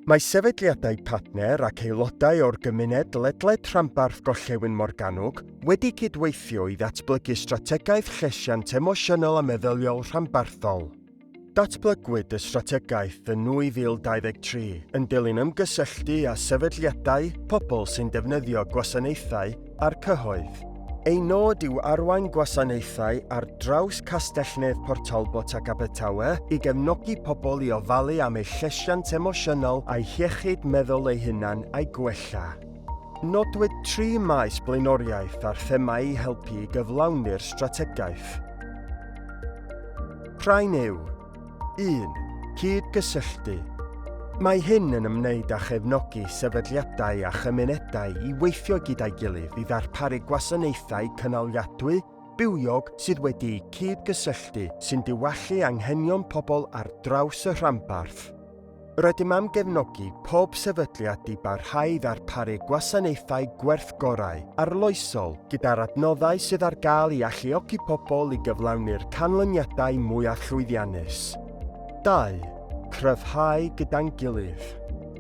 Mae sefydliadau partner ac aelodau o'r gymuned ledled rhanbarth Gorllewin Morgannwg wedi cydweithio i ddatblygu strategaeth llesiant emosiynol a meddyliol rhanbarthol. Datblygwyd y strategaeth yn 2023 yn dilyn ymgysylltu â sefydliadau, pobl sy'n defnyddio gwasanaethau, a'r cyhoedd. Ei nod yw arwain gwasanaethau ar draws Castell-nedd Port Talbot ac Abertawe i gefnogi pobl i ofalu am eu llesiant emosiynol a'u hiechyd meddwl eu hunain a'i gwella. Nodwyd tri maes blaenoriaeth a'r themâu i helpu i gyflawni'r strategaeth. Prynu yw 1. Cyd-gysylltu. Mae hyn yn ymwneud â chefnogi sefydliadau a chymunedau i weithio gyda'i gilydd i ddarparu gwasanaethau cynaliadwy, bywiog sydd wedi'u cyd-gysylltu sy'n diwallu anghenion pobl ar draws y rhanbarth. Rydym am gefnogi pob sefydliad i barhau i ddarparu gwasanaethau gwerth gorau, arloesol, gyda'r adnoddau sydd ar gael i alluogi pobl i gyflawni'r canlyniadau mwyaf llwyddiannus. 2. Cryfhau gyda'n gilydd.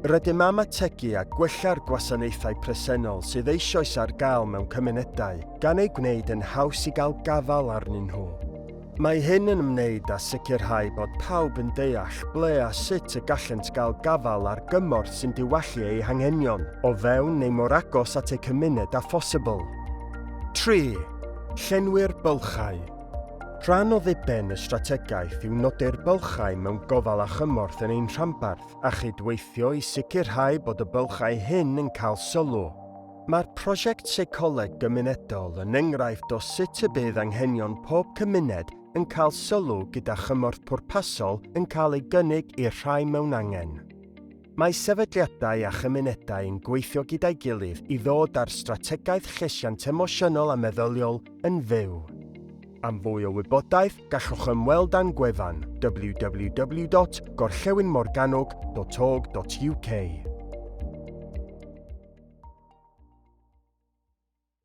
Rydym am ategu a gwella'r gwasanaethau presennol sydd eisoes ar gael mewn cymunedau, gan eu gwneud yn haws i gael gafael arnyn nhw. Mae hyn yn ymwneud â sicrhau bod pawb yn deall ble a sut y gallent gael gafael ar gymorth sy'n diwallu eu hanghenion, o fewn neu mor agos at eu cymuned â phosibl. Tri, llenwi'r bylchau. Rhan o ddiben y strategaeth yw nodi'r bylchau mewn gofal a chymorth yn ein rhanbarth a chyd-weithio i sicrhau bod y bylchau hyn yn cael sylw. Mae'r prosiect Seicoleg Gymunedol yn enghraifft o sut y bydd anghenion pob cymuned yn cael sylw gyda chymorth pwrpasol yn cael ei gynnig i'r rhai mewn angen. Mae sefydliadau a chymunedau yn gweithio gyda'i gilydd i ddod â'r strategaeth llesiant emosiynol a meddyliol yn fyw. Am fwy o wybodaeth, gallwch ymweld â'n gwefan www.gorllewinmorgannwg.org.uk.